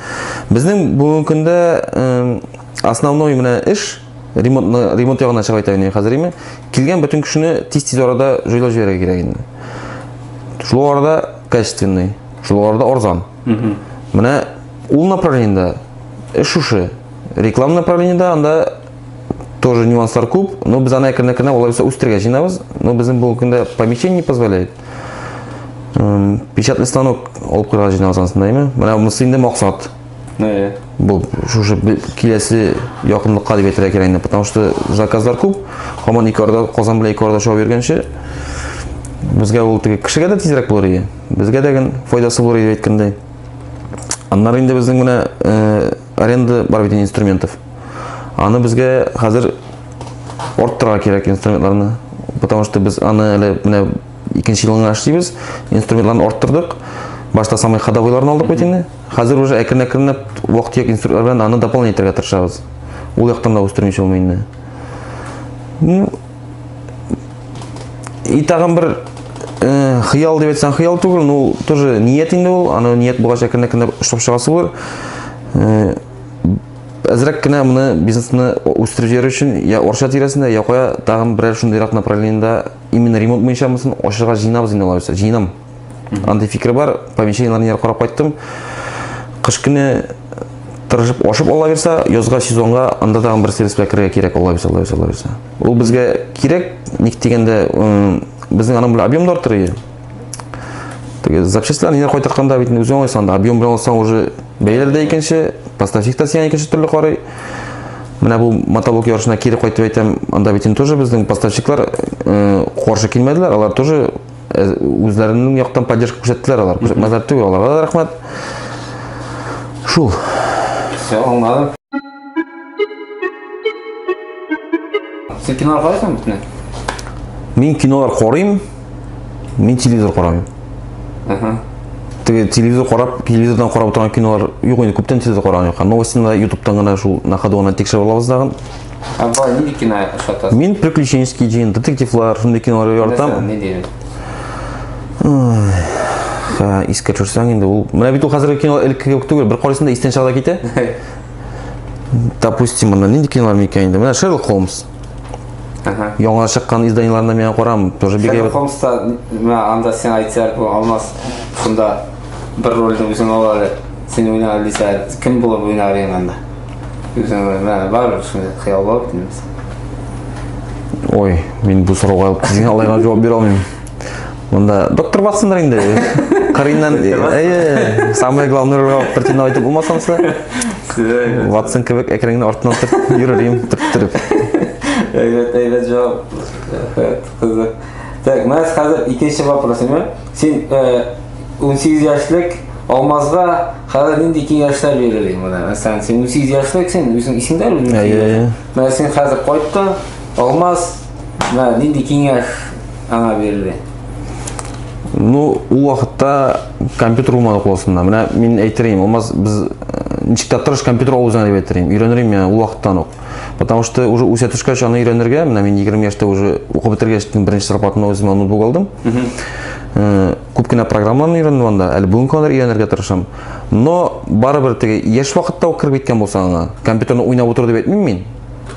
Безнең бүгенге көндә э, основной менә эш ремонт ремонт ягына чыга итә инде хәзер име килгән бөтен кешене тиз тиз арада җайлап җибәрергә кирәк инде шул арада качественный шул арада арзан менә ул направлениедә эш шушы реклама направлениедә анда тоже нюанслар күп но без аны әкрен әкренләп алай булса үстерергә җыенабыз но безнең бүгенге көндә помещение не позволяет печатный станок алып куярга җыенабыз анысында әйме менә монысы инде максат Э. Бу шушы киләсе якынлыкка дип әйтергә кирәк инде, потому что заказлар күп. Һаман ике арада Казан белән ике арада шау йөргәнче безгә ул теге кешегә дә тизрәк булыр иде. Безгә дә гын файдасы булыр иде әйткәндәй. Аннары инде безнең менә э, аренда бар бит инструментов. Аны безгә хәзер арттырырга кирәк инструментларны, потому что без аны әле менә икенче елына эшлибез, инструментларны арттырдык. Башта самый ходовойларын алдык бит инде. Хәзер уже әкрен-әкренләп вак-төяк инструментлар белән аны дополнение итәргә тырышабыз. Ул яктан да үстермичә булмый инде. Ну, и тагын бер э, хыял дип әйтсәң хыял түгел, ну тоже ният инде ул, аны ният булгач әкрен-әкренләп эшләп чыгасы булыр. Э, әзрәк кенә моны бизнесны үстереп җибәрү өчен я Орча тирәсендә, я кая тагын берәр шундыйрак направлениедә именно ремонт буенча мысын ачырга җыйнабыз инде алай булса җыенам андый фикер бар помещениеларны яр карап кайттым кыш көне тырышып ашып ала бирсә язга сезонга анда тагын бер сервис белән керергә кирәк ала бирсә ала бирсә ала бирсә ул безгә кирәк ник дигәндә безнең аның белән объем да артыр иде теге запчастьларны янә кайтартканда бит үзе уңайсың анда объем белән алсаң уже бәяләр дә икенче поставщик та сиңа икенче төрле карый менә бу мотоблок ярышына кире кайтып әйтәм анда бит инде тоже безнең поставщиклар э, каршы килмәделәр алар тоже э, үзләренең яктан поддержка күрсәттеләр алар күрсәтмәделәр түгел аларга да рәхмәт шул все аңладым Син кино карыйсың битне? Мин кинолар карыйм, мин телевизор карамыйм. Ага. Теге телевизор карап, телевизордан карап отырган кинолар юк инде, күптән телевизор караган юк. Новостенда ютубтан гына шул на ходу гына тикшереп алабыз дагын. Ә бай нинди кино ошатасың? Мин приключенческий дин, детективлар, шундый кинолар яратам. Не диләр? Искә төшерсәң инде ул. Менә бит ул хәзерге кино элекке кебек түгел, бер карыйсың да истән чагыда китә. допустим монда нинди кинолар микән инде менә шерлок холмс яңа чыккан изданиеларына миңа карам тоже бик шерлок холмста мә анда сен әйтсәр бу алмаз шунда бер рольдә үзең ал әле сен уйна дисә кем булып уйнар ең анда үзең мә бар шундый хыял бар ой мин бу сорауга кызыйналайга җавап бирә алмыйм Монда доктор бассындыр инде. Кырыйннан, әйе, самое главное ролга пертина айтып булмасамсы. Ватсон кебек әкренге артына төрт йөрерим, төрттереп. Әйбәт, әйбәт җавап. Кызык. Так, менә хәзер икенче вопрос менә. Син 18 яшьлек Алмазга хәзер нинди киңәшләр бирелә менә? Мәсәлән, син 18 яшьлек син, үзең исеңдә бит? Әйе. Менә син хәзер кайттың, Алмаз Ва, нинди киңәш аңа бирелде? Ну, ул вакытта компьютер булмады классында. Менә мин әйтерим, алмаз без э, ничек тә тырыш компьютер алу үзеңә дип әйтерим. Өйрәнерим я ул вакыттан ук. Потому что уже үсә төшкәч аны өйрәнергә, менә мин 20 яшьтә уже укып бетергәч беренче зарплатымны үземә ноутбук алдым. Э, күп кенә программаларны өйрәндем анда, әле бүгенге кадәр өйрәнергә тырышам. Но барыбер теге яшь вакытта ук кереп киткән булсаң аңа, компьютерны уйнап утыр дип әйтмим мин.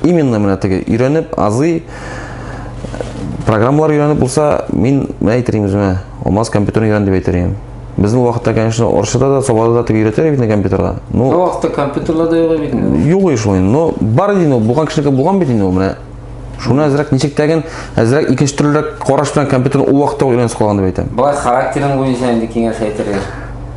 Именно менә теге өйрәнеп азый программалар өйрәнеп булса, мин менә әйтерем үземә, алмаз компьютерны өйрән дип әйтер идем. Безнең вакытта, конечно, Оршыда да, Собада да теге өйрәтәләр бит компьютерга. Ну, Бу вакытта компьютерлар да юк бит инде. Юк шул инде. Но бар иде ул, булган кешенеке булган бит инде ул менә. Шуны әзрәк ничек тәген, әзрәк икенче төрлерәк караш белән компьютерны ул вакытта ук өйрәнсә калган дип әйтәм. Болай характерың буенча инде киңәш әйтергә.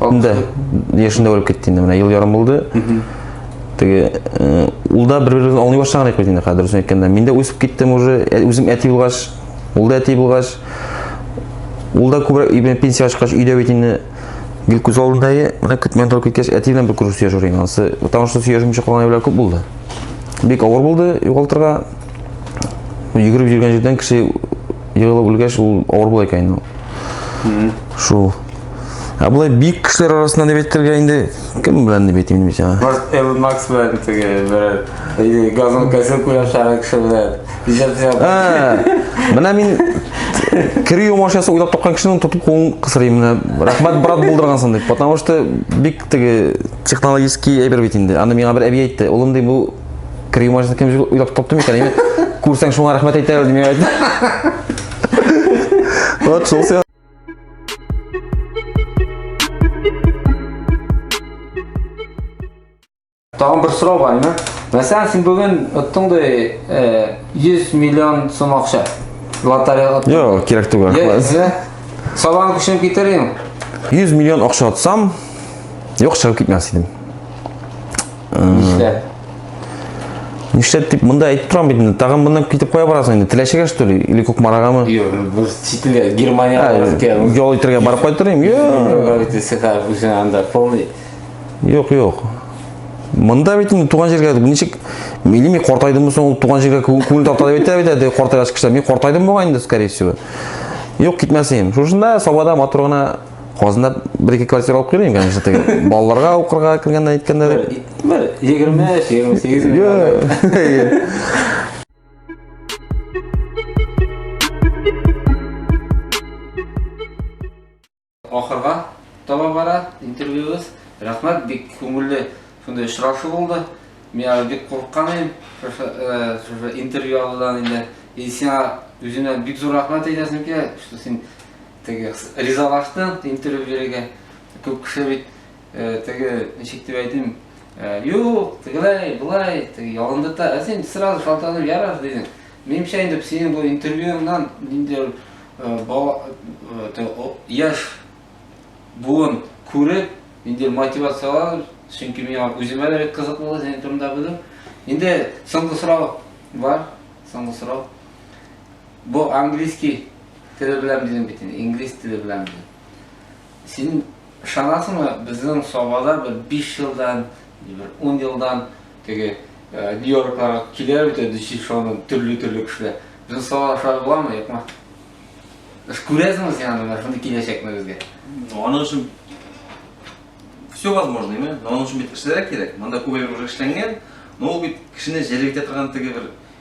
инде яшендә үлеп китте инде менә ел ярым булды теге э, ул да бер беребезне аңлый башлаган идек бит инде хәзер дөресен әйткәндә мин дә үсеп киттем уже ә, үзем әти булгач ул да әти булгач ул да күбрәк пенсия чыккач өйдә бит инде гел күз алдында менә көтмәгән торып киткәч әти белән бер күрешү сөйләшү инде анысы потому что сөйләшмичә калган әйберләр күп булды бик авыр булды югалтырга йөгереп йөргән җирдән кеше егылып үлгәч ул авыр була икән инде шул Ә болай бик кешеләр арасында дип әйтергә инде кем белән дип әйтим дип әйтә. Баш Элон Макс белән теге бер или газон кәсел куяр шагы кеше белән. Менә мин кире юмашасы уйлап тапкан кешенең тотып кулын кысырыйм менә. Рәхмәт брат булдыргансың дип. Потому что бик теге технологический әйбер бит инде. Аны миңа бер әби әйтте. Улым ди бу кире юмашасы кем уйлап тапты микән? Әйме күрсәң шуңа рәхмәт әйтәләр дип әйтте. Вот шул Тагын бер сорау бар инде. Мәсәлән, син бүген оттыңдай 100 миллион сум акча. Лотерея оттың. Йо, кирәк түгел. Йә, сабан көчен китерим. 100 миллион акча отсам, юк чыгып китмәс идем. Нишләп? Нишләп дип монда әйтеп торам бит инде. Тагын моннан китеп кая барасың инде? Теләчегә что ли? Или Кукмарагамы? Юк, бу ситиле Германия барырга. Ял итәргә барып кайтырым. Юк. Сиха үзен анда полный. Юк, юк. Монда бит инде туган җиргә ничек милими картайдымы соң ул туган җиргә күңел тарта дип әйтә бит әде картайгач кеше. Мин картайдым бугай инде скорее всего. Юк, китмәсем. Шушында Сабада матур гына Казанда бер-ике квартира алып кермим, конечно, теге балаларга укырга кергәндә әйткәндә. Бер 23-28 Ахырга таба бара интервьюбыз. Рәхмәт, бик күңелле шундый очрашу булды. Мин әле бик курыккан идем, шушы интервью алудан инде. И сиңа үзеңә бик зур рәхмәт әйтәсем килә, что син Теге ризалаштым интервью бирергә. Күп кеше бит теге ничек дип әйтим, юк, тегеләй, болай, теге ялындыта. Ә син сразу шалтыратып ярар дидең. Минемчә инде синең бу интервьюңнан ниндидер яшь буын күреп, ниндидер мотивациялар, чөнки миңа үземә дә кызык булды синең турында белү. Инде соңгы сорау бар, соңгы сорау. Бу английский Теле белән бирдем бит инде, инглиз теле белән бирдем. Син ышанасыңмы, безнең Сабада бер 5 елдан, бер 10 елдан теге э, Нью-Йоркларга килә бит инде шоуның төрле-төрле кешеләр. Безнең Сабада шулай буламы, юкмы? Сез күрәсеңме син аны, шундый киләчәкне безгә? Аның өчен все возможно, именно. Но он очень бит кешеләр кирәк. Монда күбәлек уже эшләнгән, но ул бит кешене җәлеп итә торган теге бер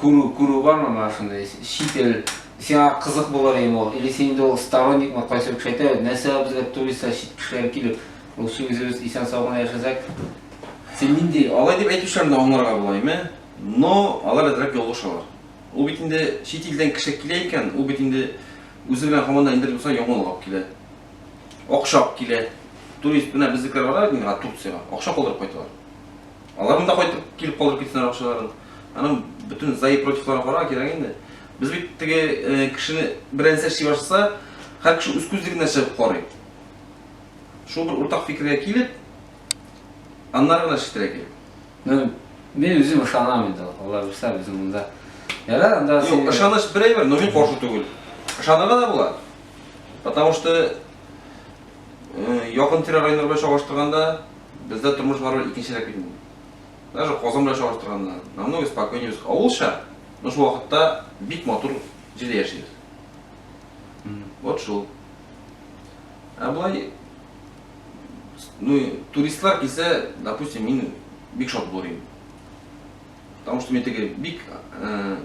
күрү, күрү бар ана шундый чит ил сиңа кызык булыр иде ул. Или син инде ул сторонник ма кайсы кеше әйтә, нәрсә безгә туристлар чит кешеләр килеп, рус үзебез исән сау гына яшәсәк. Син нинди алай дип әйтүчеләрне аңларга була име? Но алар әзрәк ялгышалар. Ул бит инде чит илдән кеше килә икән, ул бит инде үзе белән һаман да инде булса яңалык алып килә. Акча алып килә. Турист менә безнекеләр бара бит Турциягә, акча калдырып кайталар. Алар монда кайтып килеп калдырып китсеннәр акчаларын. Аның бөтен за и противларын карарга кирәк инде. Без бит теге э, кешене бер нәрсә эшли башласа, һәр кеше үз күзлегенә нәрсә карый. Шул бер уртак фикергә килеп, аннары гына эшләтергә кирәк. Ну, мин үзем ышанам инде, алла бирсә, безнең монда. Ярар, анда Юк, син- ышаныч бер әйбер, но мин каршы түгел. Ышанырга да була. Потому что э, якын тирә районнар белән чагыштырганда, Бездә тормыш барыбер икенчерәк бит инде. Даже Казан белән чагыштырганда, намного спокойнее без. Авылча, но шул вакытта бик матур җирдә яшибез. Вот шул. Ә болай, ну, туристлар килсә, допустим, мин бик шат булыр идем. Потому что мин теге бик э,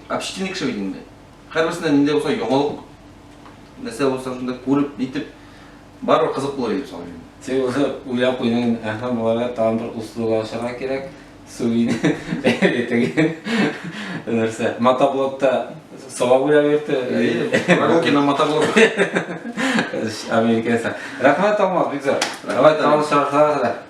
общительный кеше бит инде. Һәрберсенә ниндәй булса яңалык, нәрсә булса шунда күреп, нитеп, барыбер кызык булыр иде шул инде. Син уже уйлап куйдың инде, әһә, боларга тагын бер услуга ашарга кирәк, Сувине бәяле теге нәрсә, мотоблокта сова буйлап йөрте. Прогулкина мотоблок. Американецлар. Рәхмәт, Алмаз, бик зур. Давай, тагын очрашырга кадәр.